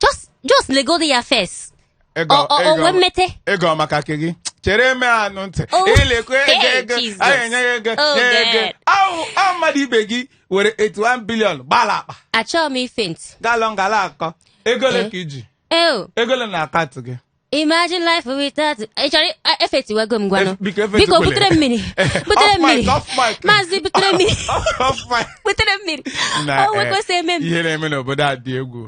just just legodi ya first Ego- Ọ- ọ- ego- onwe mmete ego maka ke gị chere me anụ ntị Oh, ilekwa ego hey, ego Jesus. anyị enye ya ego Oh, nye ya ego God. ahụ ahụ mmadụ ibe gị were 81 billion gbala akpa achọghị m ife ntị galọ ngala akọ ego ole Eh. ka i ji eo ego ole na account gị Imagine life without ị chọrọ ị- efaintiwego m ngwanụ Ef- biko efaintikwele. biko butere m mmiri butere Off m mic, mmiri off mic. maazị butere m mmiri Off mic. butere m mmiri Na, o eh, nwekwesị eme m ihe na-eme n'obodo a dị egwu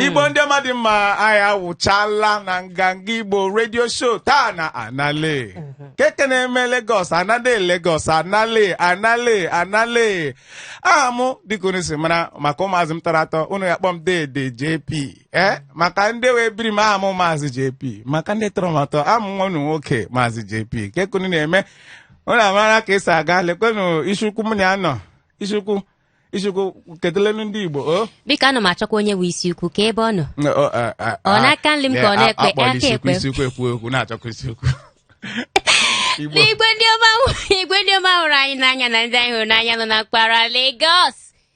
igbo ndị ọma dị mma anyị awụchala na nganga igbo redio show taa na anale keke na-eme Lagos anale Lagos anale anale anale aha mụ dịka unu si mara maka ụmụazị m tọrọ atọ unu ya-akpọ m dede jp ee maka ndị wụ ebiri m aha m maazị jp maka ndị tọrọ m atọ aha m wụ nwa unu nwoke maazị jp kee ka unu na-eme unu amara ka e si aga lekwenu isiukwu m na ya nọ isiukwu isiukwu kedelenu ndị igbo o biko ana m achọkwa onye bụ isi ukwu kee ebe ọ nọ N- ọ- a- a- Ọ a- n'aka nri m ka ọ n'ekpe, a- akpọla aka isiukwu ekpe. isiukwu ekwu ekwu na-achọkwa isiukwu igbo n'igwe ndị ọma hụ- igwe ndị ọma hụrụ anyị n'anya na ndị anyị hụrụ n'anya nọ na mpaghara Lagos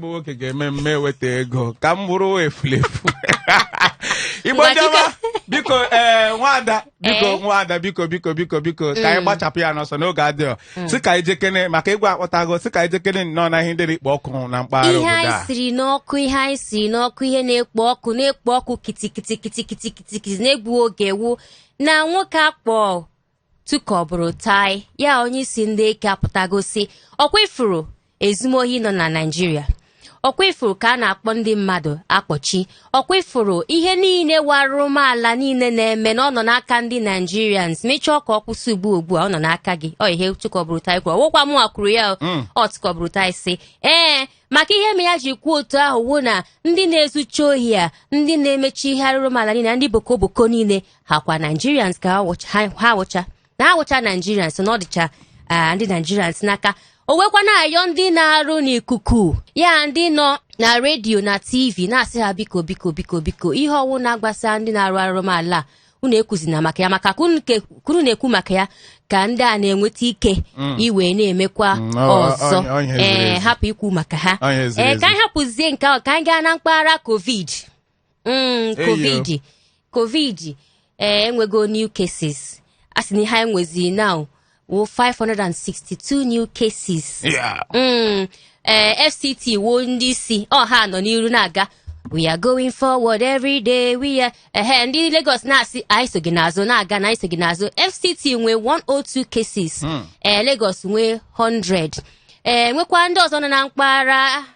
bụ nwoke ga-eme mme eweta ego ka m bụrụ efulefu igbo ndị ọma biko ee nwada biko Ee. nwada biko biko biko biko ka anyị Mm. gbachapụ ya n'ọsọ na oge adịghọ sị ka anyị jekene maka ịgwa akpọtago sị ka anyị jekene nnọọ na ihe ndị na-ekpo ọkụ na mpaghara ihe obodo anyị a siri n'ọkụ ihe anyị siri n'ọkụ ihe na-ekpo ọkụ na-ekpo ọkụ kitikiti kitikiti kitikiti na-egbu oge wụ na nwoke a kpọ Tukur Buratai ya onye isi ndị eke apụtago sị ọkwa ị fụrụ ezumohi nọ na Nigeria ọkwa ị fụrụ ka a na-akpọ ndị mmadụ akpọchi ọkwa ị fụrụ ihe niile wụ arụmala niile na-eme na ọ nọ n'aka ndị Nigerians ma a chọọ ka ọ kwụsị ugbu ugbu a ọ nọ n'aka gị ọ ihe Tukur Buratai kwuru ọ wụkwa mụ kwuru ya o. ọ Tukur Buratai sị ee maka ihe me ya ji kwuo otu ahụ wụ na ndị na-ezucha ohi a ndị na-emecha ihe arụrụmala niile na ndị boko boko niile ha kwa Nigerians ka ha wụcha- ha ha wụcha na ha wụcha Nigerians na ọ dịcha ah, ndị Nigerians n'aka o weekwa na-ayọ ndị na-arụ n'ikuku ya ndị nọ na redio na tv na-asị ha biko biko biko biko ihe ọwụna gbasa ndị na-arụ arụmala a unu ekwuzina maka ya maka ka unu ke- ka unu na-ekwu maka ya ka ndị a na-enweta ike wee na-emekwa Mm, ọ- ọ- ọzọ ọ- ọ ihe ziri ee ezi. hapụ ikwu maka ha Ọ ihe ziri ee ka ezi. anyị hapụzie nke ahụ ka anyị gaa na mpaghara covid Mm, covid covid ee enwego new cases a sị na ihe anyị nwezi now wụ 562 new cases Yeah. Mm, eh, fct wụ ndị isi ọ ha nọ n'iru na-aga we are going forward every day we are ehe ndị lagos na-asị anyị so gị n'azụ na-aga na anyị so gị n'azụ fct nwee 102 cases eh, lagos nwee 100 eh, nwekwa ndị ọzọ nọ na mpaghara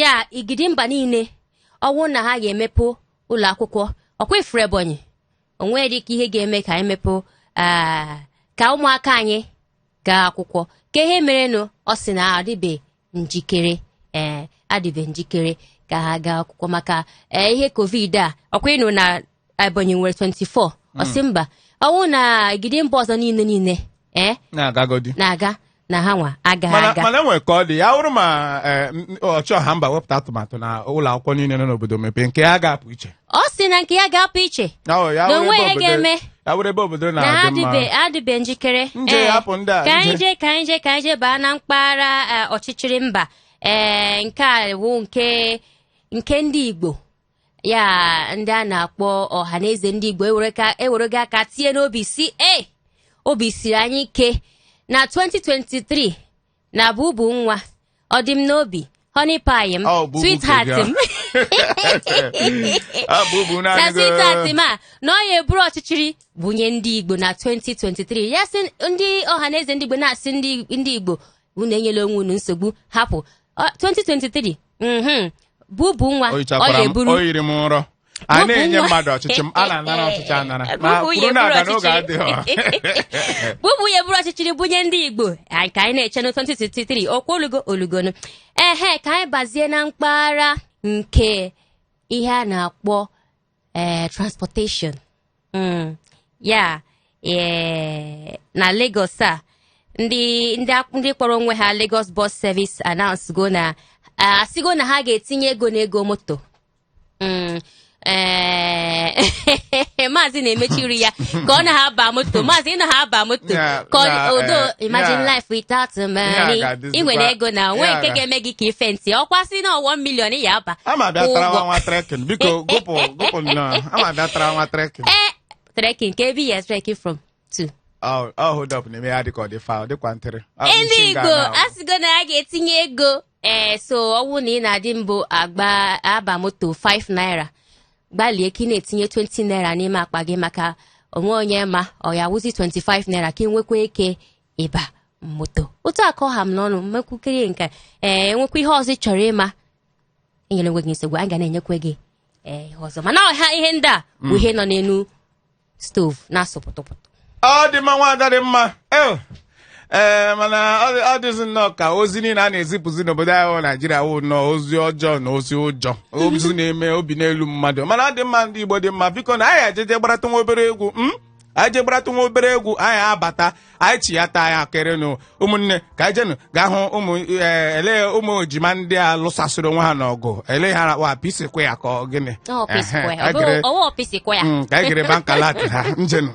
ya igidi mba niile ọ wụ na ha ga-emepe ụlọ akwụkwọ ọkwa ị fụrụ Ebonyi o nwere dịka ihe ga-eme ka anyị mepee ah, ka ụmụaka anyị gaa akwụkwọ ka ihe merenụ ọ sị na adịbe njikere ee adịbe njikere ka ha gaa akwụkwọ maka ee ihe covid a ọkwa ị nụna Ebonyi nwere 24 ọ sị mba ọ wụ na igidi mba ọzọ niile niile ee na-agagodi na-aga na ha nwa agaghị aga mana enwere ka ọ dị ya wụrụ ma eh, m- ọchị ọha mba wepụta atụmatụ na ụlọ akwụkwọ niile nọ n'obodo mepee nke ya ga-apụ iche ọ sị na nke ya ga-apụ iche na onwe ya ga-eme ya wụrụ ebe obodo na ha na-adị mma adịbe adịbe njikere Nje, Ee, hapụ ndị a, ka anyị jee ka anyị jee ka anyị jee baa na mpaghara eh, ọchịchịrị mba ee nke a wụ nke nke ndị Igbo ya ndị a na-akpọ ọha na eze ndị igbo ewerego aka tie n'obi sị e obi siri anyị ike na 2023 na Bubu nwa ọ dị m n'obi honey pie m Bubu sweetheart m Bubu na naanị gị. sweetheart m a na ọ ya-eburu ọchịchịrị bunye ndị igbo na 2023 ya sị ndị ọha na eze ndị igbo na-asị ndị ndị igbo unu enyela onwe unu nsogbu hapụ Ọ- 2023 mhm, Bubu nwa ọ ya-eburu o yiri m nrọ a na-enye mmadụ ọchịchị m a na-anara ọchịchị anara ma kwuru na aga n'oge adịghị Bubu ya-eburu ọchịchịrị bunye ndị igbo anyị ka anyị na-eche na 2023 okwu olugo olugonu ehe ka anyị bazie na mpaghara nke ihe a na-akpọ ee transportation Mm, ya ee, na Lagos a ndị ndị ak- ndị kpọrọ onwe ha Lagos Bus Service announce go na ah, asịgo na ha ga-etinye ego n'ego moto Mm, ee, maazị na-emechiri ya ka ọ na ha aba moto maazị ị na ha aba moto Ya, ka ọ ya, odo eh, imagine life without money Ya ga-adị ị nwere ego na o nwe nke ga-eme gị ka ife ntị ọkwa sị na 1 million ya aba ama bịa tara nwa nwa trekking biko gụpụ gụpụ nnọọ ama bịa tara nwa trekking ee trekking ka ebe ya trekking from to ọ ọ hold up na-eme ya dịka ọ dị fa ọ dịkwa ntịrị ndị ụgbọ asịgo na ya ga-etinye ego ee so ọ wụ na ị na-adị mbụ aba moto 5 naira gbalịa ka ị na-etinye 20 naira n'ime akpa gị maka o nwe onye ma ọ ya-awụzi 25 naira ka ị nwekwa ike ịba moto otu a ka ọ ha m n'ọnụ mekwukerie nke ee enwekwa ihe ọzọ ị chọrọ ịma enyela onwe gị nsogbu anyị ga na-enyekwa gị ee ihe ọzọ mana ọha ihe ndị a bụ ihe nọ n'elu stove na-asụ pụtụpụtụ ọ dị mma nwaada dị mma Eh, ee mana ọ dị- ọ dịzi nnọọ ka ozi niile a na-ezipụzi n'obodo anyị bụ naijiria wụ nnọọ ozi ọjọọ na ozi ụjọ ozi na-eme obi n'elu mmadụ mana ọ dị mma ndị igbo dị mma biko na anyị ejeje gbarata nwa obere egwu m anyị je gbaratụ nwa obere egwu anyị abata anyị chiyata ya kerenụ ụmụnne ka anyị jenụ gaa hụ ụmụ ee, ele ụmụ ejima ndị a lụsasịrị onwe ha n'ọgụ ele ha wụ P-Square ka ọ gịnị Ọ P-Square. Ehe, ka anyị gere- Ọ wụ P-Square. Mm, ka anyị gere Bank Alert ha njenụ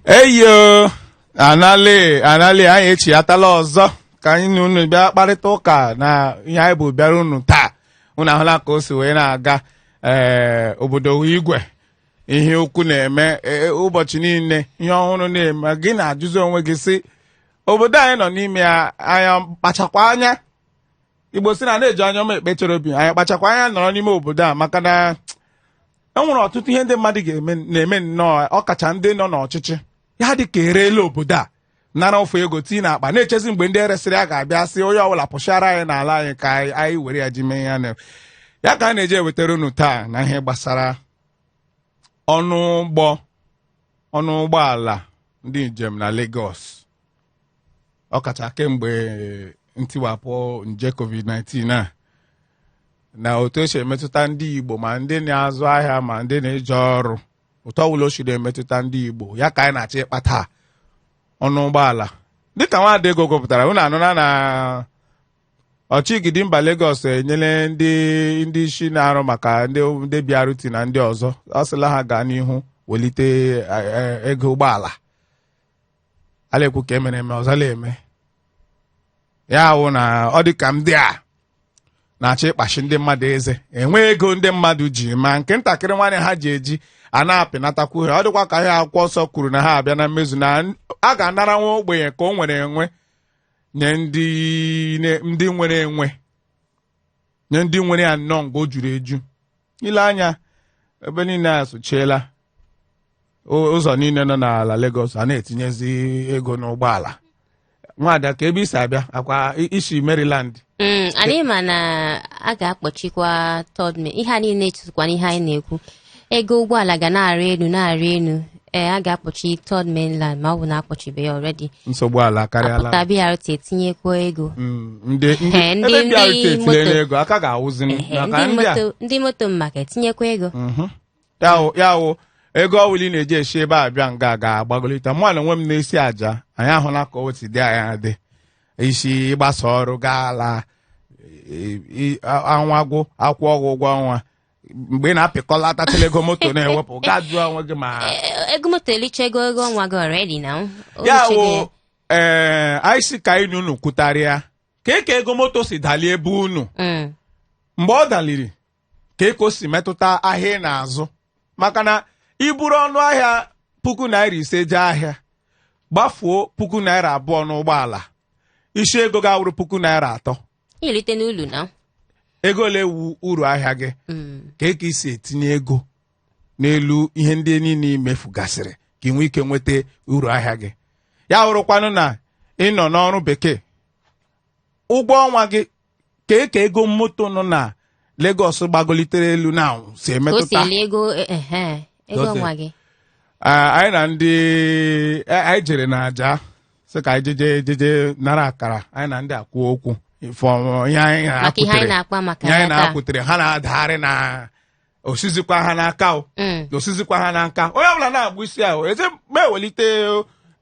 eyo anali anali anyị echiyatala ọzọ ka anyị na unu bịa kparịta ụka na ihe anyị bụ bịara unu taa unu ahụla ka o si wee na-aga ee obodo igwe ihe ukwu na-eme e, ụbọchị niile ihe ọhụrụ na-eme gị na-ajụzi onwe gị sị obodo anyị nọ n'ime ya anyị kpachakwa anya Igbo sị na a na-eji anya ọma ekpe Cherubim anyị kpachakwa anya nọrọ n'ime obodo a maka na e nwere ọtụtụ ihe ndị mmadụ na-eme nnọọ ọkacha ndị nọ n'ọchịchị ya dị ka e reela obodo a nara ofu ego tii na akpa na-echezi mgbe ndị eresịrị ya ga-abịa sị onye ọbụla pụchara anyị n'ala anyị ka anyị anyị were ya ji mee ya na ya ka a na-eji ewetara unu taa na ihe gbasara ọnụ ụgbọ ọnụ ụgbọala ndị njem na Lagos ọkacha kemgbe ntiwapụ nje covid-19 a na otu o si emetụta ndị Igbo ma ndị na-azụ ahịa ma ndị na-eje ọrụ otu ọbụla o si na-emetụta ndị Igbo ya ka anyị na-achọ ịkpa taa ọnụ ụgbọala dịka nwaada Ego gụpụtara unu anụna na ọchịgidi mba Lagos enyela ndị ndị isi na-arụ maka ndị ndị BRT na ndị ọzọ ọ sịla ha gaa n'ihu welite eh, eh, ego ụgbọala a na-ekwu ka e mere eme ọzọ na-eme ya wụ na ọ dị ka ndị a na-achọ ịkpachi ndị mmadụ eze enwe ego ndị mmadụ ji ma nke ntakịrị nwa ihe ha ji eji a na-apịnatakwu ha ọ dịkwa ka ihe akwụkwọ nsọ kwuru na ha abịa na mmezu na a ga-anara nwa ogbenye ka o nwere enwe nye ndị ne- ndị nwere enwe nye ndị nwere ya nnọọ nga o juru eju i lee anya ebe niile a sụchiela ụ- ụzọ niile nọ n'ala Lagos a na-etinyezi ego n'ụgbọala nwaada kee ebe i si abịa ọ kwa i- i si Maryland Mm, anyị ma na a ga-akpọchikwa Third Main ihe a niile chetakwa na ihe anyị na-ekwu ego ụgbọala ga na-arị elu na-arị elu ee a ga-akpọchi Third Mainland ma ọ bụ na akpọchibe ya already nsogbu ala akarịala pụta BRT etinyekwa ego Mm, ndị ndị Ee, ndị- ebe BRT etinyela ego aka ga-awụzi Ehe, maka ndị ndị a moto ndị moto maka etinyekwa ego Mhm. ya wụ ya wụ ego ọ bụla ị na-eji esi ebe a bịa nga ga-agbagolite mụ na onwe m na-esi Ajah anyị ahụla ka o si dị ọ naghị adị easy ị gbasaa ọrụ gaa ala e- e- a- ọnwa gwụ a kwụọ gị ụgwọ ọnwa mgbe ị na-apịkọlatacha ego moto na-ewepụ gaa jụọ onwe gị ma E- ego moto elichego ego ọnwa gị already now ya richego ya. wụ ee anyị sị ka anyị na unu kwutarịa ka eke ego moto si dalie ebe unu Mm. mgbe ọ daliri ka eke o si metụta ahịa ị na-azụ maka na i buru ọnụ ahịa puku naira ise jee ahịa gbafuo puku naira abụọ n'ụgbọala isi ego ga-awụrụ puku naira atọ i rite n'ulu na ego ole wụ uru ahịa gị Mm. ka eke i si etinye ego n'elu ihe ndị niile i mefugasịrị ka ị nwee ike nweta uru ahịa gị ya wụrụkwanụ na ị nọ n'ọrụ bekee ụgwọ ọnwa gị ka eke ego moto nọ na Lagos gbagolitere elu na anwụ si ka o si emetụta eli ego eh, eh, eh, ego Dozie. ọnwa gị Ah, anyị na ndị eh, anyị jere na Ajah sị ka anyị jeje jeje nara akara anyị na ndị a kwuo okwu ife ọmụma ihe anyị maka ihe anyị na-akwụtere na-akpa maka ihe anyị ya taa na-akwụtere ha na-adagharị na o sizikwa ha n'aka o Mm. o sizikwa ha n'aka onye ọbụla na-agba isi ahụ eze ma e welite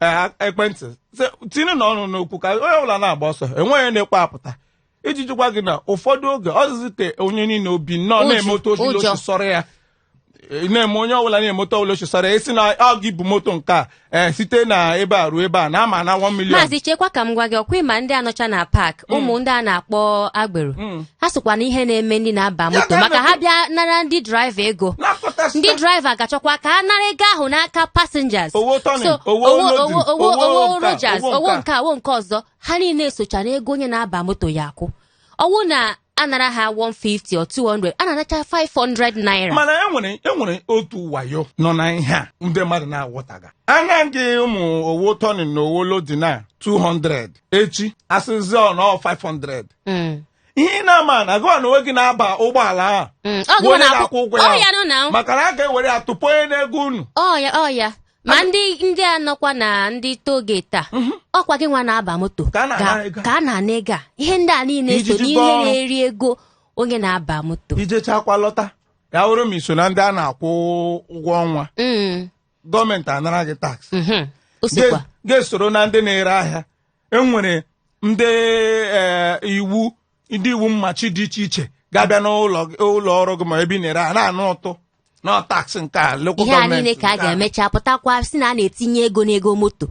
eh, ekwentị sị- tinye na ọnụ n'okwu ka onye ọbụla na-agba ọsọ enweghị onye na-ekwe apụta iji jụkwa gị na ụfọdụ oge ọ dịzị ka onye niile obi nnọọ Ụjụ, na-eme otu o si ụjọ. sọrọ ya Ị na-eme onye ọbụla na-eme otu ọbụla o si sọrọ ya esi na ọ gị bụ moto nke a ee site na ebe a ruo ebe a na ama na 1 million maazị chekwa ka m gwa gị ọkwa ị ma ndị a nọcha na paak ụmụ ndị a na-akpọ agbero Mm. ha sokwa na ihe na-eme ndị na-aba Ya moto ka maka ha na-ekwu. bịa nara ndị draiva ego na-akọta ndị sita- draiva gachọkwa ka ha nara ego ahụ n'aka passengers Owo turning, so owo owo loading, owo owo owo owo nke a, rogers owo owo nke nke a owo nke ọzọ ha niile socha na ego onye na-aba moto ya akwụ ọ wụ na a nara ha 150 or 200 a na-anacha 500 naira mana e nwere e nwere otu wayo nọ na ihe a ndị mmadụ na-aghọtaga a naa gị ụmụ owo turning na owo loading a 200 echi a sịzi ọ nọ 500 Mm, ihe ị na-ama na gụwa na onwe gị na-aba ụgbọala ahụ mm. Ọ bụ gụwa onye na-akwụ- na-akwụ ụgwọ ọ ya ya nụ na maka na a ga-ewere ya tụkpọnye n'ego unu ọ ya ọ ya ma ndị ndị a nọkwa na ndị tollgate a mhm. ọkwa gị nwa na-aba moto ka a na-ana ego a ihe ndị a niile so n'ihe na-eri ego onye na-aba moto i jechakwa lọta ya wụrụ ma i so na ndị a na-akwụ ụgwọ ọnwa mm. gọọmenti anara gị tax mhm. gị esoro na ndị na-ere ahịa e nwere ndị e, iwu ndị iwu mmachi dị iche iche ga-abịa n'ụlọ gị- ụlọ ọrụ gị ma ebe ị na-ere a na-ana ụtụ na tax nke a local ihe a niile ka a ga-emecha pụtakwa sị na a na-etinye ego n'ego moto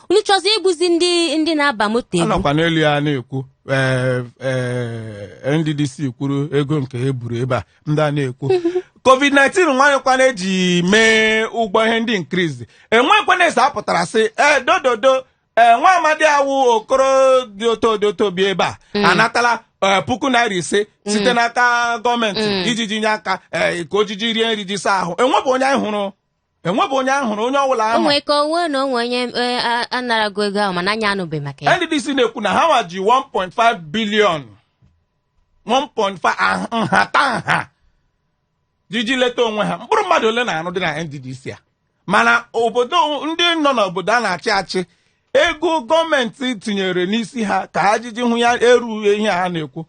unu chọzi igbuzi ndị ndị na-aba moto egbu a nọkwa n'elu ya na-ekwu ee, ee, NDDC kwuru ego nke e buru ebe a ndị a na-ekwu covid-19 e nwekwana e ji mee ụgbọ ihe ndị increase e nwekwana eze apụtara sị ee dododo ee nwa amadi awụ okoro dị oto dị oto bi ebe a anatala ee, puku naira ise site n'aka gọọmenti iji ji nye aka ee, ka o jiji rie nri ji saa ahụ enwebụ onye anyị hụrụ enwebụ onye anyị hụrụ onye ọbụla o ama nwee ka onwe na onwe onye eh, a- a narago ego ahụ mana anyị anụbeghị maka ya NDDC na-ekwu na ha nwa ji 1.5 billion 1.5 ah- nhata nha jiji leta onwe ha mkpụrụ mmadụ ole na-arụdị na NDDC a mana obodo ndị nọ n'obodo a na-achị achị ego gọọmenti tinyere n'isi ha ka ha jiji hụ ya erughị ihe a na-ekwu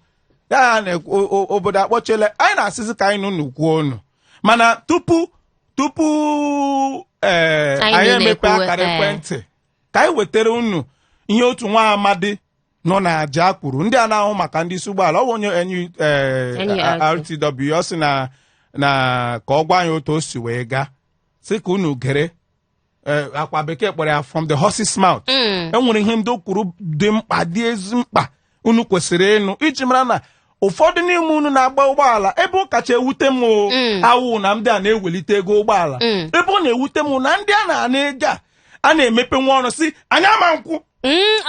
ya ha na-ekwu o- o- obodo akpọchiela anyị na-asịzi ka anyị nụ nụkwuo ọnụ mana tupu tupu ee Anyị anyị emepe na-ekwuwe, akara ee. ekwentị ka anyị wetara unu ihe otu nwa amadi nọ na Ajah kwuru ndị a na-ahụ maka ndị isi ụgbọala ọ bụ onye NU, eh, NURTW. RTW ọ sị na na ka ọ gwa anyị otu o si wee gaa sị ka unu gere eh, akwa bekee kpọrọ ya from the horse's mouth Mm. e nwere ihe ndị o kwuru dị mkpa dị ezi mkpa unu kwesịrị ịnụ iji mara na ụfọdụ n'ime unu na-agba ụgbọala ebe ọ kacha ewute m o, Mm. awụ na ndị a na-ewelite ego ụgbọala Mm. ebe ọ na-ewute m na ndị a na-ana ego a a na-emepe nwa ọnụ sị anyị ama nkwụ Mm,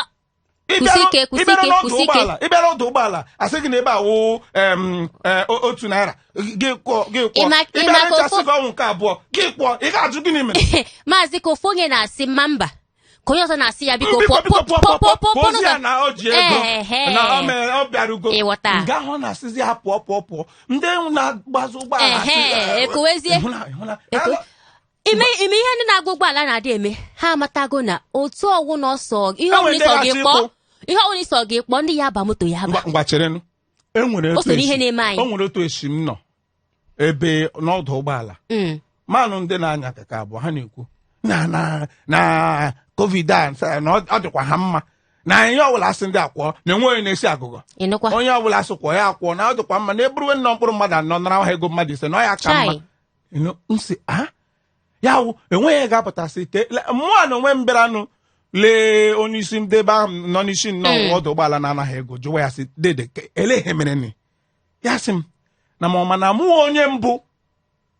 ị bịara ọdụ ụgbọala a sị gị na ebe a wụ e, otu naira gị kwụọ gị kwụọ ị bịara echi a sị gị ọ wụ nke abụọ gị kwụọ ị ga-ajụ gịnị mere maazị ka ofu onye na-asị mba mba ka onye ọzọ na-asị ya biko pụọ pụọ pụọ pụọ pụọzi ya na o ji ego na ọ bịarugo nga ahụ na-asịzi ya pụọ pụọ pụọ ndị na-agbazi ụgbọala ekowezie ime ime ihe ndị na-agba ụgbọala na-adị eme ha amatago na otu ọgwụ na ọsọ ihe E nwere ọbụla ndị ịsọ gị ga-asị kpọọ ịkwụ. ihe ọbụla ịsọ gị kpọọ ndị ya ba moto ya ba Ngwa- ngwa cherenụ e nwere O otu so n'ihe esi- na-eme anyị. o nwere otu esi m nọ ebe n'ọdụ ụgbọala Mm. manụ ndị na-anya keke abụọ ha na-ekwu na na na covid a nsa- na ọ ọ dịkwa ha mma na ihe ọbụla a sị ndị a kwụọ na enwe onye na-esi agugo ịnụkwa onye ọbụla a sị kwụọ ya akwụọ na ọ dịkwa mma na e buruwe nnọọ mkpụrụ mmadụ anọ nara ha ego mmadụ ise na ọ ya ka mma chai You know, m sị ah ya wụ enweghị ihe ga-apụtasi ike le- mụwa na onwe m bịaranụ lee onye isi ndị ebe ahụ nọ n'isi nnọọ ọdụ ụgbọala na-anagha ego jụwa ya sị dede ke- elee ihe merenị?" ya sị m na ma ọ ma na mụ wụ onye mbụ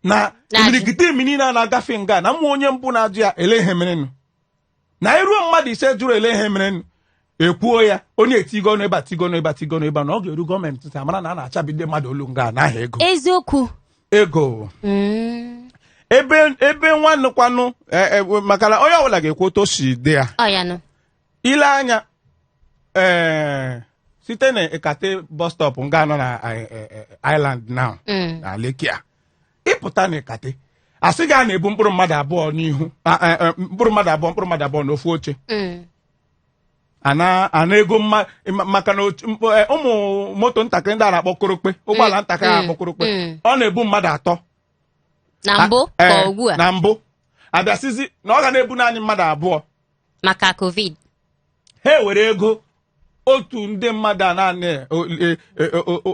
na Na-ajụ. imirikiti ndị niile na-agafe nga a na mụ wụ onye mbụ na-ajụ ya elee ihe merenụ na iruo mmadụ ise jụrụ elee ihe merenụ e kwuo ya onye etigo ọnụ ebe atigo ọnụ ebe atigo ọnụ ebe na ọ ga-eru gọọmenti ntị a mara na a na-achabi ndị mmadụ olu nga n'aha ego eziokwu ego Mm. ebe ebe nwanụkwanụ eh, eh, maka na onye ọbụla ga-ekwu otu o si dị ya ọ ya nụ i lee anya ee site na Ikate bus stop nga nọ na eh, eh, eh, Island now Mm. na Lekki a ịpụta na Ikate a sị gị a na-ebu mkpụrụ mmadụ abụọ n'ihu a- a- a- mkpụrụ mmadụ abụọ mkpụrụ mmadụ abụọ n'ofu oche Mm. a na-ana ego mma ma- maka na otu- mkpọ- eh, ụmụ moto ntakịrị ndị a na-akpọ korokpe ụgbọala ntakịrị a na-akpọ korokpe Mm. ọ na-ebu mmadụ atọ na mbụ A- ka eh, ugbu a na mbụ a bịa sịzi na ọ ga na-ebu naanị mmadụ abụọ maka covid ha ewere ego otu ndị mmadụ a naanị e, e, e,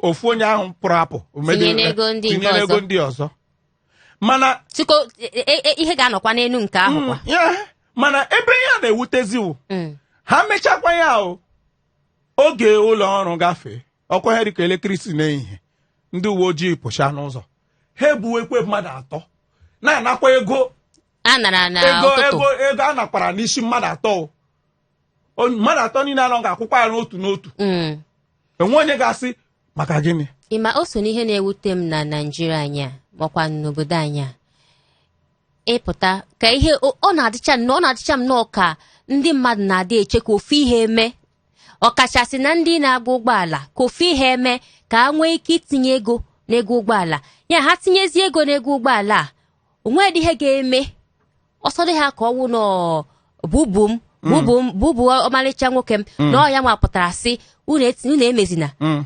ofu onye ahụ pụrụ apụ tinyere ego ndị ọzọ mana tuko ihe ga-anọkwa n'elu nke ahụ mm, mana ebe ihe a na-ewutezi wụ mm. ha mechakwa ya ahụ oge ụlọ ọrụ gafee ọ kụọ ihe dịka elekere isii n'ehihie ndị uwe ojii pụcha n'ụzọ ha ebuwekwe mmadụ atọ na-anakwa ego a nara na ego ụtụtụ ego ego a nakwara n'isi mmadụ atọ o. O- mmadụ atọ niile anọ ga-akwụkwa ya n'otu n'otu Mm. enwe onye ga-asị maka gịnị ị ma o so n'ihe na-ewute m na Naịjirịa anyị a makwa n'obodo anyị a ịpụta ka ihe o- ọ na-adịcha nnọọ- ọ na-adịcha m nnọọ ka ndị mmadụ na-adị eche ka ofu ihe eme ọkachasị na ndị na-agba ụgbọala ka ofu ihe eme ka ha nwee ike itinye ego n'ego ụgbọala ya ha tinyezie ego n'ego ụgbọala a o nwedị ihe ga-eme ọ sọdị ha ka ọ wụ na ọ Bubu m Bubu m Bubu ọmalịcha nwoke m na ọ ya nwa pụtara sị unu eti- unu emezina Mm.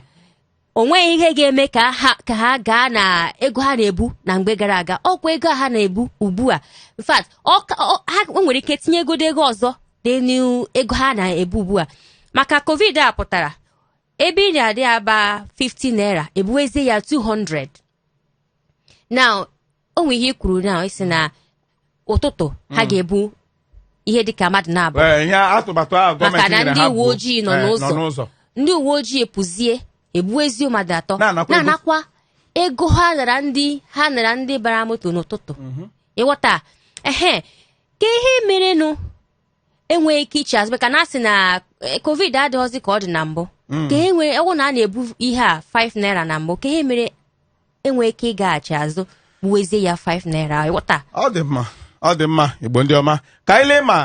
o nweghị ihe ga-eme ka ha ka ha gaa na ego ha na-ebu na mgbe gara aga ọkwa ego a ha na-ebu ugbu a in fact ọ ka- ọ- ha o nwere ike tinye ego ego ọzọ n'elu ego ha na-ebu ugbu a maka covid a pụtara ebe ị na-adị aba 50 naira ebuwezie ya 200 now o nwere ihe i kwuru na ị sị na ụtụtụ ha ga-ebu ihe dịka mmadụ naabọ Ee, ihe atụmatụ ahụ gọọmenti maka na nyere ndị ha uwe bụ, ojii nọ eh, n'ụzọ ndị uwe ojii pụzie ebuwezi mmadụ atọ Na-anakwa ego. na-anakwa ego ha nara ndị ha nara ndị bara moto n'ụtụtụ ịghọta ehe kee ihe merenụ enweghị ike iche azụ maka na a sị na eh, covid adịghịzi ka ọ dị na mbụ hmm. kee ihe ọ wụ na a na-ebu ihe a 5 naira na mbụ kee ihe mere enweghị ike ịgaghachi azụ buwezie ya 5 naira ịghọta ọ dị mma ọ dị mma Igbo ndị ọma ka anyị lee ma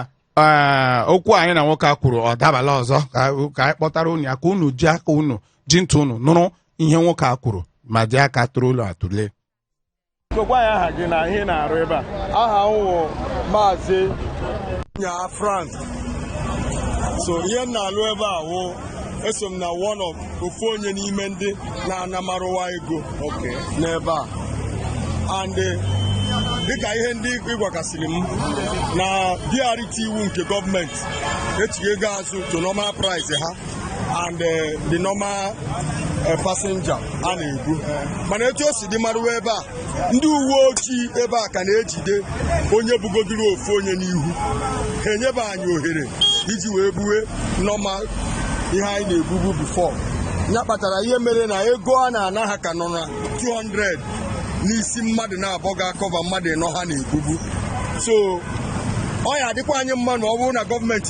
eh, okwu anyị na nwoke a kwuru ọ dabala ọzọ ka anyị kpọtara unu ya ka unu ji aka unu ji ntị unu nụrụ ihe nwoke a kwuru ma dị aka tụrụ ụlọ atụle Gwa gwa anyị aha gị na ihe ị na-arụ ebe a. Aha m wụ Maazị Nya Frank. So ihe m na-alụ ebe a wụ eso m na one of ofu onye n'ime ndị na-ana Maruwa ego n'ebe a and eh, dịka ihe ndị ịgwakasịrị m na BRT wụ nke gọọmenti echighị ego azụ to normal price ha and eh, the normal eh, passenger a na-ebu mana etu o si dị maruwa ebe a ndị uwe ojii ebe a ka na-ejide onye bugodiri ofu onye n'ihu ha enyebe anyị ohere iji wee buwe normal ihe anyị na-ebubu before ya kpatara ihe mere na ego a na-ana ha ka nọ na 200 n'isi mmadụ naabọ ga-acover mmadụ ịnọ ha na-ebubu so ọ ya-adịkwa anyị mma na ọ bụrụ na gọọmenti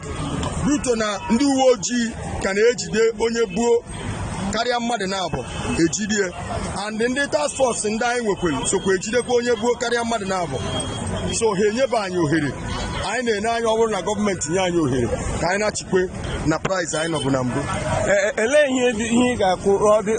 Due to na ndị uwe ojii ka na-ejide onye buo karịa mmadụ naabọ ejide and ndị task force ndị anyị nwekwere sokwa ejidekwa onye buo karịa mmadụ naabọ so ha enyebe anyị ohere anyị na-ene anya ọ bụrụ na gọọmenti nye anyị ohere ka anyị nachikwe na price anyị nọbu na mbụ e, e, elee ihe ihe ị ga-ekwu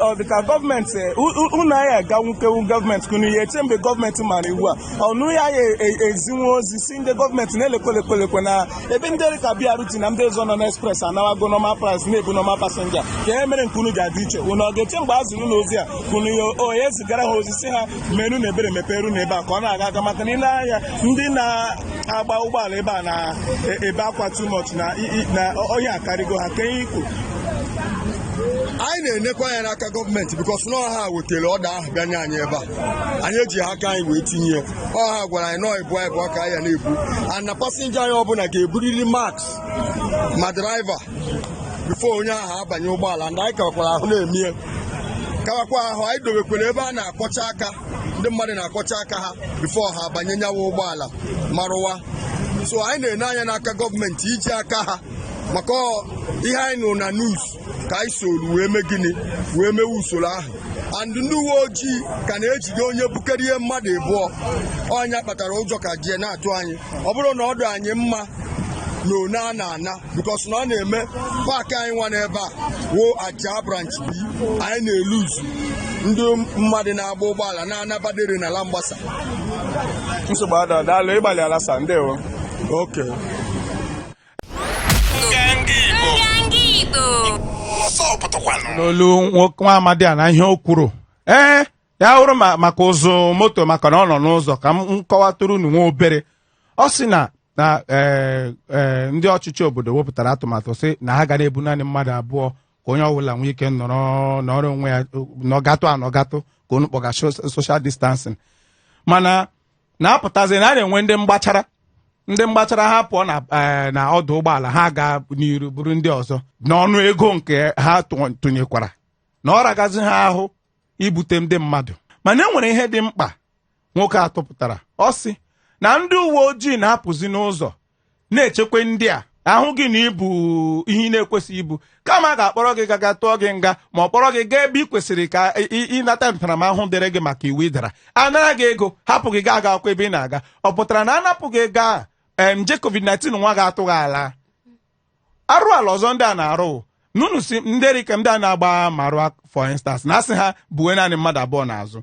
ọ dị ka gọọmenti e, unu anyị aga nwokewu gọọmenti ka unu ya-eche mgbe gọọmenti mara iwu a unu ya ya ezinwe ozi sị ndị gọọmenti na lekwe na ebe ndị dịka BRT na ndị ọzọ nọ n'express anawago normal price na-ebu normal passenger kee mere nke unu ji adị iche unu ọ ga-eche mgbe e ziri unu ozi a ka unu ya-ezigara ha ozi sị ha meere unu ebere mepeere unu ebe a ka ọ na-aga aga maka na ị lee anya ndị na-agba ụgbọala ebe a na-ebe akwa too much na i- i- na ihe akarịgo ha kee ihe i kwu anyị na-enekwa anya n'aka gọọmenti because na ọ ha wetara order ahụ bịa nye anyị ebe a anyị ejiha aka anyị wee tinye ya ọ ha gwara anyị na ọ ịbụa ịbụa ka anyị ya na-ebu and na passenger anyị ọbụla ga-eburiri mask ma driver before onye ahụ abanye ụgbọala and anyị kawakwara ahụ na-emie kawakwa ahụ anyị dobekwara ebe a na-akwọcha aka ndị mmadụ na-akwọcha aka ha before ha abanye nya wụ ụgbọala marụwa so anyị na-ene anya n'aka gọọmenti iji aka ha maka ihe anyị nụrụ na news ka anyị soro wee mee gịnị wee mewe usoro ahụ and ndị uwe ojii ka na-ejide onye bukarịrị mmadụ ịbụọ ọ nya kpatara ụjọ ka jie na-atụ anyị ọ bụrọ na ọ dị anyị mma na one a na-ana because na ọ na-eme park anyị nwa n'ebe a wụ Ajah branch B anyị na-elose ndị mmadụ na-agba ụgbọala na-ana Badore na Langbasa nsogbu adịghị daalụ ị gbalịala sir ndewo okay n'olu nwoke nwa amadi a na ihe o kwuru ee ya hụrụ ma maka ụzụ moto maka na ọ nọ n'ụzọ ka m kọwatụrụ unu nwa obere ọ sị na na ee ee ndị ọchịchị obodo wepụtara atụmatụ sị na ha ga na-ebu naanị mmadụ abụọ ka onye ọbụla nwee ike nọrọ nọrọ onwe ya nọgatụ anọgatụ ka unu kpọga social distancing mana na-apụtazi na a na-enwe ndị mgbachara ndị mgbachara ha pụọ na eh, na ọdụ ụgbọala ha gaa n'iru buru ndị ọzọ n'ọnụ ego nke ha tụ- tụnyekwara na ọ ragazi ha ahụ ibute ndị mmadụ mana e nwere ihe dị mkpa nwoke a tụpụtara ọ sị na ndị uwe ojii na-apụzi n'ụzọ na-echekwa ndị a ahụ gị na ibu ihe ị na-ekwesịghị ibu kama a ga-akpọrọ gị gaga tụọ gị nga ma ọ kpọrọ gị gaa ebe ị kwesịrị ka ị- ị- ịnata ntaramahụhụ dịrị gị maka iwu ị dara anara gị ego hapụ gị gaa aga akwụkwọ ebe ị na-aga ọ pụtara na a napụ gị ego a em, nje covid-19 nwa gị atụghị ala arụ ala ọzọ ndị a na-arụ na unu si ndị dịka ndị a na-agba marwa for instance na a sị ha buwe naanị mmadụ abụọ n'azụ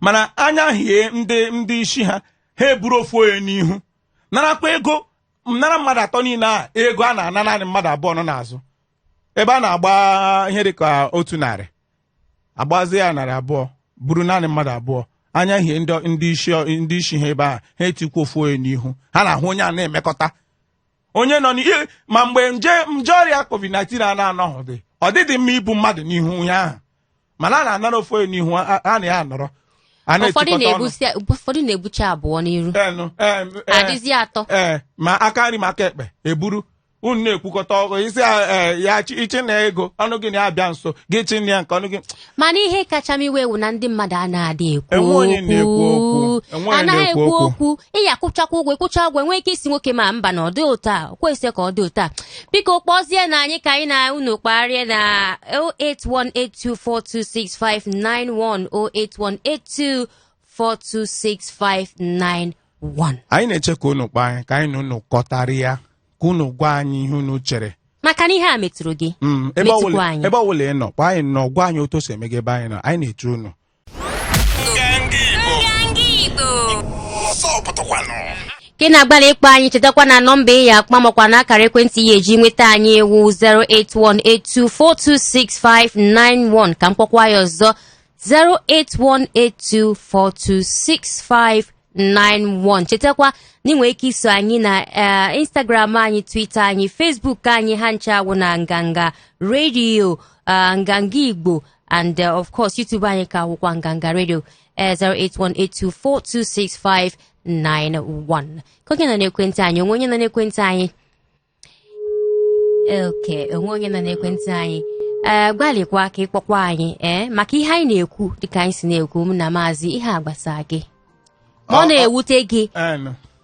mana anya hie ndị ndị isi ha ha eburu ofu onye n'ihu narakwa ego nara mmadụ atọ niile a ego a na-ana naanị mmadụ abụọ nọ n'azụ ebe a na-agba ihe dịka otu narị agbazie ya narị abụọ buru naanị mmadụ abụọ anya hie ndị isi ha ebe a ha etikwa ofu onye n'ihu ha na ahụ onye a na-emekọta onye nọ n'ihu ma mgbe nje nje ọrịa covid-19 a na-anọghọdị ọ dịdị mma ibu mmadụ n'ihu ya ahụ mana a na-anara ofu onye n'ihu a a na ya anọrọ a ụfọdụ na-etikọta ọnụ na-ebusi- ụfọdụ na-ebucha abụọ n'iru Enụ, em, eh, adịzi atọ ee ma aka nri ma aka ekpe eburu unu na-ekwukọta ọgụ isi ya chi- ịchị na ego ọnụ gị na-abịa nso gị chị na ya nke ọnụ gị mana ihe kacha m iwe wụ na ndị mmadụ anaghị ekwu Enwe onye na-ekwu okwu. Enwe onye anaghị na-ekwu ekwu okwu. okwu ị ya-akwụchakwa ụgwọ ị kwụchaa ụgwọ enwee ike ịsị nwoke m mba na ọ dị otu a kwesịrị ka ọ dị otu a biko kpọzienụ anyị ka anyị na unu kparịa na 08182426591 08182426591 anyị na-eche ka unu kpọọ anyị ka anyị na unu kọtara ya ka unu gwa anyị ihe unu chere maka na ihe a metụrụ gị Mm, ebe Metụkwa ọbụla- anyị. ebe ọbụla ị nọ kpọọ anyị nọ gwa anyị otu o si eme gị ebe anyị nọ anyị na-eche unu ka ị na-agbalị ịkpọ anyị chetakwa na nọmba ị ya-akpọ makwa na akara ekwentị ị ya-eji nweta anyị wụ 08182426591 ka m kpọkwa ya ọzọ 08182426591 91 chetakwa na ị nwere ike iso anyị na eh, instagram anyị twitter anyị facebook anyị ha ncha a wụ na nganga radio eh, nganga igbo and eh, of course youtube anyị ka wụkwa nganga radio eh, 08182426591 ka onye nọ n'ekwentị anyị o nwee onye nọ n'ekwentị anyị okay o nwee onye nọ n'ekwentị anyị ee eh, gbalịkwa ka ịkpọkwa anyị ee eh, maka ihe anyị na-ekwu dịka anyị si na-ekwu m na maazị ihe a gbasa gị ma ọ na-ewute gị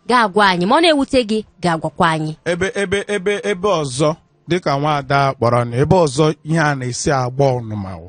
ga-agwa anyị ma ọ na-ewute gị ga-agwakwa anyị ebe ebe ebe ebe ọzọ dịka nwaada kpọrọ na ebe ọzọ ihe a na-esi agba ọnụma wụ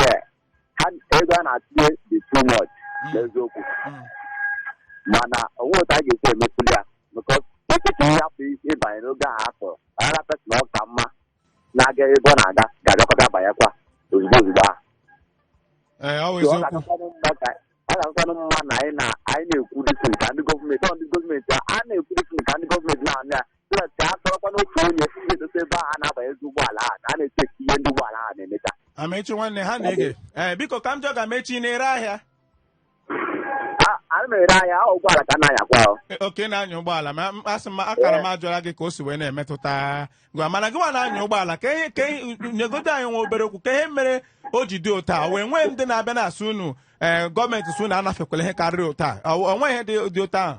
Yeah. Ha ego a na-atụnye dị too much Mm. n'eziokwu. Mm. Mana o nwere otu a ga-esi emepụli ya. Because tupu ịhapụ ịbanye n'oge ahụ afọ, another person ọ ka mma na-aga ebe ọ na-aga ga-abịakọta banyekwa ozugbo ozugbo ahụ. Ee, ọ bụ So, ọ eziokwu. ga-akakwanụ mma ka- ọ ga-akakwanụ mma na anyị na- anyị na-ekwu this thing ka ndị gọọmenti ọ ndị gọọmenti a a na-ekwu this thing ka ndị gọọmenti na-anụ ya so that ka a tọrọkwa n'otu onye na-edote ebe ahụ a na-abanyezi ụgbọala ahụ na a na-eche ka ihe ndị ụgbọala ahụ na-emecha Amaechi nwanne ha na-ege ee biko ka m jụọ gị Amaechi na-ere ahịa A- a na-ere ahịa ahụ ụgbọala ka a na-anyakwa ahụ E, okay ị na-anya ụgbọala ma m- asị m akara m ajụla gị ka o si wee na-emetụta gị mana gị nwa na-anya ụgbọala ka ihe ka ihe nyegodo anyị nwa obere okwu ka ihe mere o ji dị otu a wee nwee ndị na-abịa na-asị unu ee gọọmenti sị unu anafekwala ihe karịrị otu a o o nweghị ihe dị dị otu ahụ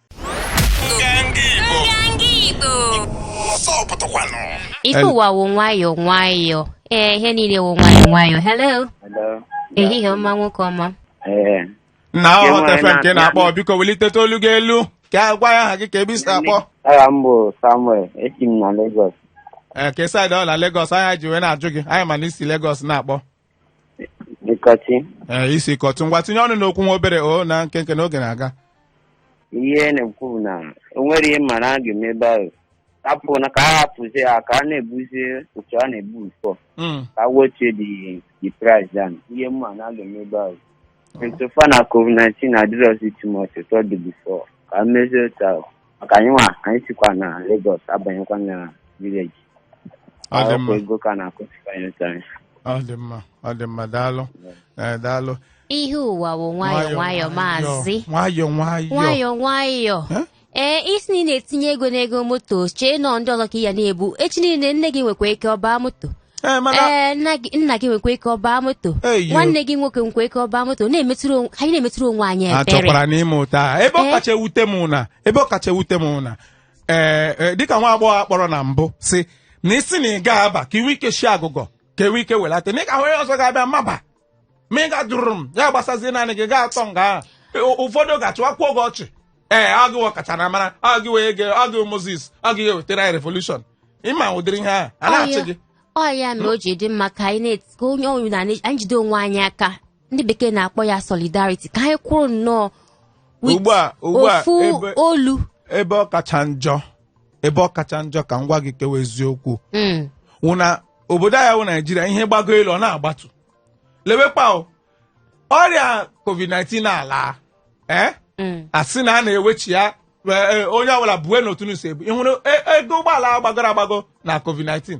Ife ụwa wụ nwayọọ nwayọọ. Ee, ihe niile wụ nwayọọ nwayọọ. Hello. Ehihie ọma nwoke ọma. Ee. nna aghọta ife nke na-akpọ biko welitetụ olu gị elu ka ị gwa anyị aha gị ka ebe i si akpọ Aha m bụ Samuel, esi m na Lagos. ee kee side ọ wụ na Lagos anyị ji wee na-ajụ gị anyị ma na i si Lagos na-akpọ Ikotun. ee i si Ikotun ngwa tinye ọnụ n'okwu nwa obere o na nkenke na oge na-aga Ihe m na-ekwu bụ na o nwere ihe m ma na a ga-eme ebe ahụ. Ọ bụ na ka a hapụzi ya ka a na-ebuzi otu a na-ebu before. Mm. Ka e wete the price down. Ihe m ma na a ga-eme ebe ahụ. In so far na COVID-19 adịrọzi too much otu ọ dị before. Ka e mezie otu ahụ. maka anyị nwa anyị sikwa na Lagos abanyekwa na village ọ dị mma ego ka na-akọsikwa anyị otu anyị ọ dị mma ọ dị mma daalụ ee daalụ ihe ụwa wụ nwayọ nwayọ maazị nwayọ nwayọ nwayọ nwayọ Eh? ee ị sị na ị na-etinye ego n'ego moto i chee na ọ ndị ọzọ ka ị ya na-ebu echi niile nne gị nwekwa ike ọ baa moto ee mana ee nna gị nna gị nwekwa ike ọ baa moto Eyo. nwanne gị nwoke nwekwa ike ọ baa moto na-emetụrụ onwe- anyị na-emetụrụ onwe anyị ebere chọkwara n'ime ụta ahụ. ebe ọ Ee. kacha ewute m wụ na ebe ọ kacha ewute m wụ na ee ee, dịka nwa agbọghọ a kpọrọ na mbụ sị na ị sị na ị ga-aba ka i nwee ike shi agụgọ ka e nwee ike welata na ị ga-ahụ onye ọzọ ga-abịa maba ma ị gajụrụ m ya gbasazie naanị gị ga-atọ nga ahụ E, ụfọdụ ga-achịwakwuo gị ọchị ee ọ gị wụ ọkacha na mara ọ gị wee ge ọ gị wụ Moses ọ gị ga-ewetara anyị revolution ị ma ụdịrị ihe ahụ a na-achị gị ọ ya mere o ji dị mma ka anyị na-eti ka onye ọ wụna anyị anyị jide onwe anyị aka ndị bekee na-akpọ ya solidarity ka anyị kwụrụ nnọọ with ugbu a ugbu a ofu ebe- olu ebe ọ kacha njọ ebe ọ kacha njọ ka m gwa gị nke wụ eziokwu Mm. wụ na obodo anyị wụ Naịjirịa ihe gbago elu ọ na-agbatu lewekwa o, ọrịa covid-19 na-ala ee Mm. a sị na a na-ewechi ya e, e, onye ọbụla buwenụ otu unu si ebu ị hụrụ e- ego ụgbọala a gbagoro agbago na covid-19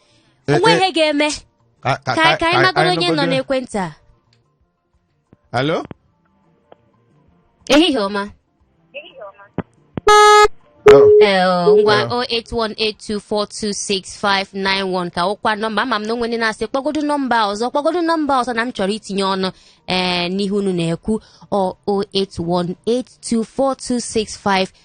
Eh, o nwe eh, ihe ga-eme ka- ka- ka ka anyị magodo onye nọ nụgodo- n'ekwentị a Hello? ehihie ọma Oh, Eh, oh, ngwa Eh. 08182426591 ka wụkwa nọmba ama m na o nwe ndị na-asị kpọgodo nọmba ọzọ kpọgodo nọmba ọzọ na m chọrọ itinye ọnụ ee n'ihe unu na-ekwu ọ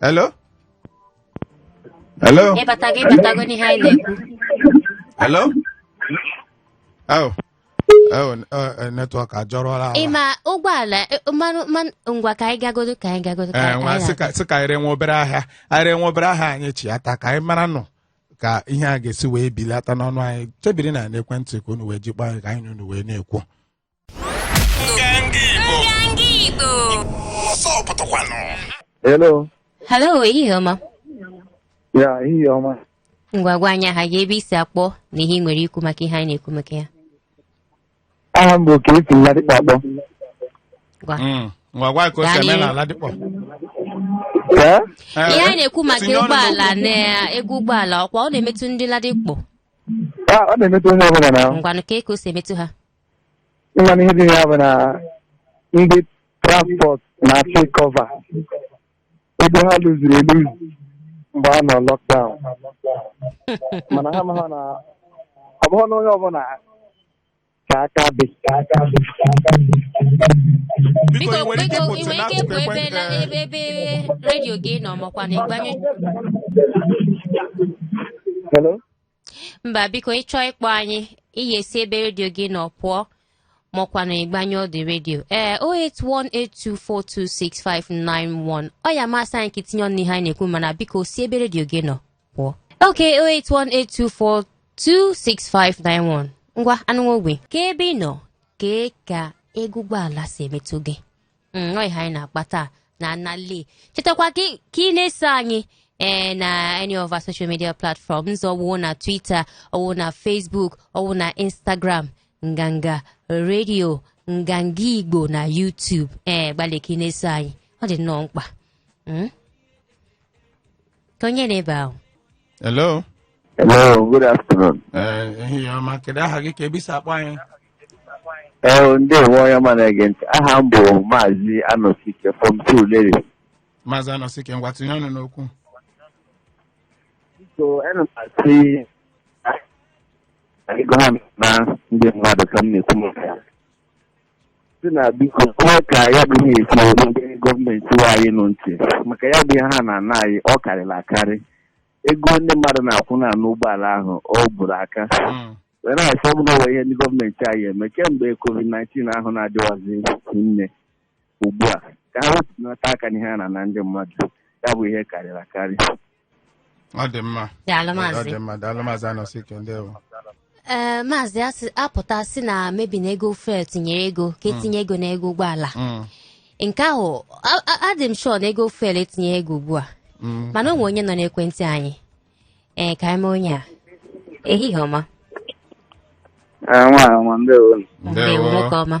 hello hello ịbata gị ị batago n'ihe anyị na-ekwu hello oh oh n- oh, eh, netwọk ajọrọla ala. ị ma ụgbọala eh, mmanụ mmanụ ngwa ka anyị gagodo ka anyị gagodo ka Eh, anyị nwa anyị sị ka- sị ka anyị ree nwa obere ahịa anyị ree nwa obere ahịa anyị chiata ka anyị maranụ ka ihe a ga-esi wee belata n'ọnụ anyị chebiri na n'ekwentị ka unu wee jikpa anyị ka anyị na unu wee na-ekwu Hello. Hello, ehihie ọma. Ya, ehihie ọma. Ngwa gwa anyị aha gị ebe i si akpọ na ihe ị nwere ikwu maka ihe anyị na-ekwu maka ya. Aha m bụ ka esi Ladipo akpọ. Gwa. Mm. ngwa gwa ka o si eme na Ladipo Ee? Eh, Ihe anyị na-ekwu maka tinye ọnụ ụgbọala n'okwu. na ego ụgbọala ọkwa ọ na-emetụ ndị Ladipo. Ah, ọ na-emetụ onye ọbụla na ahụ. Ngwanụ kaa ka o si emetụ ha. ị ma na ihe dị na ya bụ na ndị transport na-achọ ịkọva ego ha luziri eluzi mgbe a nọ lockdown mana ha amaha na ọ bụghị na onye ọbụla ka aka dị biko ị nwere ike biko ị ịpụtụ nwere ike n'akụkụ ịpụ ebe na ekwentị ebe ebe redio gị nọ maọkwanụ ị gbanyụ Hello? mba biko ị chọọ ịkpọ anyị ị ya-esi ebe redio gị nọ pụọ maọkwanụ ị gbanyụọdị redio ee 08182426591 ọ ya-amasị anyị ka i tinye ọnụ n'ihe anyị na-ekwu mana biko si ebe redio gị nọ pụọ ok 08182426591 ngwanụ ogbe ka ebe ị nọ kee ka ego ụgbọala si emetụ gị Mm, ọ ihe anyị na-akpa taa na anali chetakwa ka ị- ka ị na-eso anyị ee na any of our social media platforms ọwụ na twitter ọwụ na facebook ọwụ na instagram nganga redio nganga igbo na youtube ee gbalị ka ị na-eso anyị ọ dị nnọọ mkpa Mm? kee onye nọ ebe ahụ hello Hello, good afternoon. Eh, ehihie ọma kedu aha gị kee ebe i si akpọ anyị Ee, ndewo onye ọma na-ege ntị. Aha m bụ Maazị Anọsike from Surulere. maazị anọsike ngwa tinye ọnụ n'okwu So, ana m asị na ego ha na ndị mmadụ ka m na-ekwu maka ya. si na biko kwee ka ya bụ ihe esi eru ndị gọọmenti we anyị nụ ntị maka ya bụ ihe ha na-ana anyị ọ karịrị akarị ego ndị mmadụ na-akwụ na n'ụgbọala ahụ ọ bụrụ aka Mm. were asị ọ bụla ihe ndị gọọmenti anyị eme kemgbe covid-19 ahụ na-adịwazi nne ugbu a ka ha wepụnata aka n'ihe a na-ana ndị mmadụ ya bụ ihe karịrị akarị ọ dị mma daalụ ọ maazị dị mma daalụ maazị Anọsike ndewo ee maazị asị a pụta sị na maybe na ego fuel tinyere ego ka e tinye ego na ego ụgbọala Mm, nke ahụ a- a- adị m sure na ego fuel etinye ego ugbu a mm. mana o nwe onye nọ n'ekwentị anyị ee ka anyị mee onye a ehihie ọma Ee, nwaanyị ọma ndewo ndewo nwoke ọma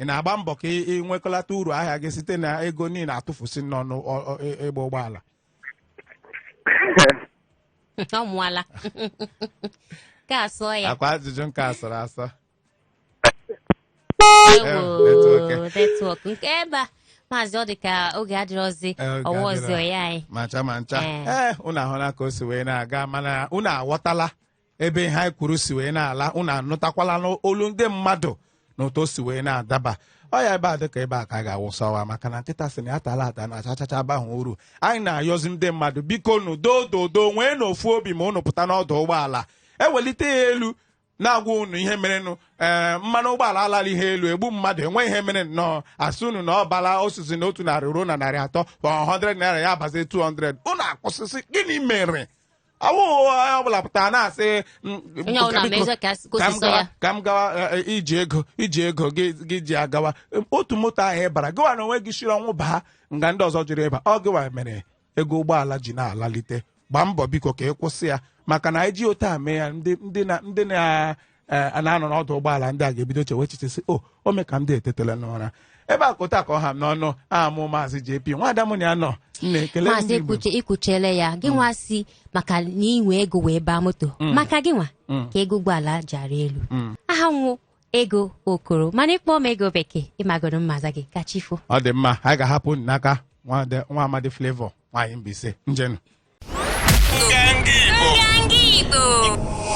ị na-agba mbọ ka ị nwekọlata uru ahịa gị site na ego niile a tụfusi n'ọnụ ọ- ọ- ị- ịgba ụgbọala ọ mụọla ka asụọ ya ọkwa ajụjụ nke asọrọ asọ Ewo, network. network nke ebe a maazị ọ dị ka oge adịrọzi Eh, oge ọwa adịrọ. ọzọ ya anyị ma ncha ma ncha Eh. ee unu ahụla ka o si wee na-aga mana unu aghọtala ebe ihe anyị kwuru si wee na-ala unu anụtakwala n'olu ndị mmadụ na otu o si wee na-adaba ọ ya ebe a dịka ebe a ka a ga-awụsawa maka na nkịta sị na ya tala ata na achachacha abahụ uru anyị na-ayọzi ndị mmadụ bikonụ dododo nweenụ ofu obi ma unu pụta n'ọdụ ụgbọala e welite ya elu na-agwa unu ihe merenụ ee eh, mmanụ ụgbọala alala ihe elu egbu mmadụ enweghị ihe mere nnọọ a sị unu na ọ bala osisi na otu narị ruo na narị atọ 100 naira ya abazi 200 unu akwụsị sị gịnị mere ọ wụghị onye ọbụla pụtara na-asị m- Onye ọbụla biko, mezie ka ka m osisi gawa- ya. ka m gawa eh, eh, i ji ego i ji ego gị gị ji agawa Em, otu moto ahụ ị bara gịwa na onwe gị shiri ọnwụ baa nga ndị ọzọ jụrụ ịba ọ gịwa mere ego ụgbọala ji na-alalite gbaa mbọ biko ka ị kwụsị ya maka na anyị ji otu a mee ya ndị ndị na ndị na ee a na-anọ n'ọdụ ụgbọala ndị a ga-ebido chewe echiche sị o o mee ka ndị a etetela n'ụra ebe a kụta ka ọ ha m n'ọnụ ọ mụ maazị JP nwada m na ya nọ m na-ekele maazị ndị Igbo i kwuche i kwuchele ya gị nwa sị maka na i nwe ego wee baa moto maka gị nwa ka ego ụgbọala ji arị elu aha m wụ Ego Okoro mana ị kpọọ m Ego Bekee ị magoro m aza gị ka chi foo ọ dị mma anyị ga-ahapụ unu n'aka nwada- nwa amadi Flavour nwaanyị Mbaise njenụ Nganga Igbo. Nganga Igbo.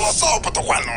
Ọzọ pụtakwanụ.